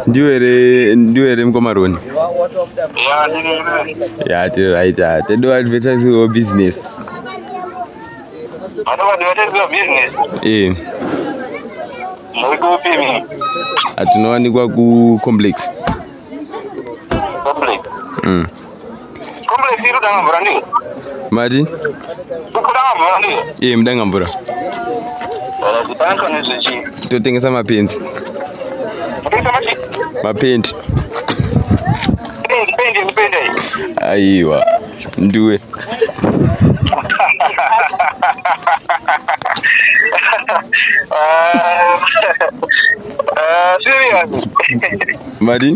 ndiwe here ndiwe here mukoma roni ya tiri right a tedo advertise wo business ee atinowanikwa kucomplex mm. mati iye mudanga mvura totengesa mapenzi mapendi aiwa nduwe Mari?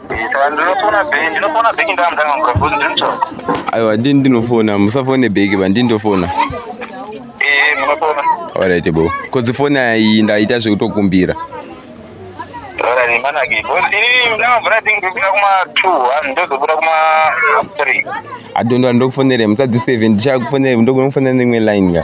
aiwa ndini ndinofona musafone bheki ba ndini ndofona alright bo bcause foni ayi ndaita zvekutokumbira adondwa ndokufonere musadziseve ndichakufonere ndokunokufonera neimwe line ka